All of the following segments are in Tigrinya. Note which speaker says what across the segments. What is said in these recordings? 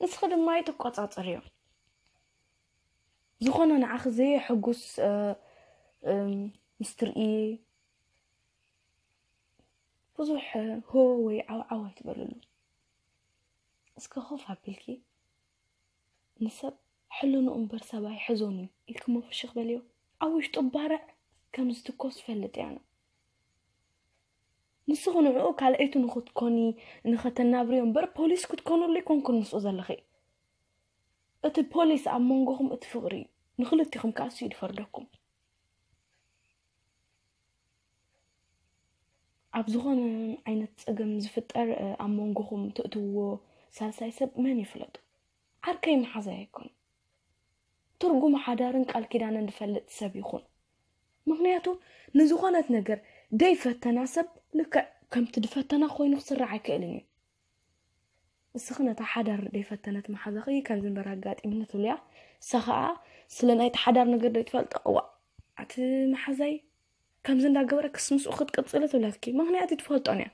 Speaker 1: ንስኺ ድማ ኣይትቆፃፀርዮ ዝኾነ ንዓኺ ዘየሕጉስ ምስ ትርኢ ብዙሕ ሆ ወይ ዓውዓው ኣይትበልሉ እስከ ኮፍ ኣቢልኪ ንሰብ ሕልንኡ እምበር ሰብ ኣይሕዞን እዩ ኢልክሞ ፍሽኽ በልዮ ኣብ ውሽጡ ባርዕ ከም ዝትኮስ ፈልጥ እያ ነው ንስኹ ንዕኡ ካልኣይቱ ንኽትኮኒ ንኸተናብርዮ እምበር ፖሊስ ክትኮኑሉ ይኮንኩን ምስኡ ዘለኺ እቲ ፖሊስ ኣብ መንጎኹም እቲ ፍቕሪ እዩ ንክልቲኹም ከዓ እሱ ይድፈርደኩም ኣብ ዝኾነ ዓይነት ፀገም ዝፍጠር ኣብ መንጎኹም ትእትውዎ ሳልሳይ ሰብ መን ይፍለጡ ዓርከይ መሓዛይ ኣይኮን ትርጉም ሓዳርን ቃል ኪዳንን ዝፈልጥ ሰብ ይኹን ምክንያቱ ንዝኾነት ነገር ደይፈተና ሰብ ልክዕ ከምቲ ድፈተና ኮይኑ ክስራሕ ኣይክእልን እዩ ንስኺ ነታ ሓዳር ደይፈተነት መሓዛኺ ከምዚ እምበር ኣጋጢምኒ ትብልያ እሳ ከዓ ስለ ናይቲ ሓዳር ነገር ደይትፈልጦ እዋ ኣቲ መሓዛይ ከምዚ እንዳገበረ ክስ ምስኡ ክትቅፅሊ ትብለትኪ ምክንያት እዩ ትፈልጦን እያ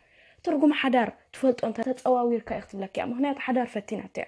Speaker 1: ትርጉም ሓዳር ትፈልጦ እንተ ተፀዋዊርካ እዩ ክትብለክ እያ ምክንያቱ ሓዳር ፈቲናት እያ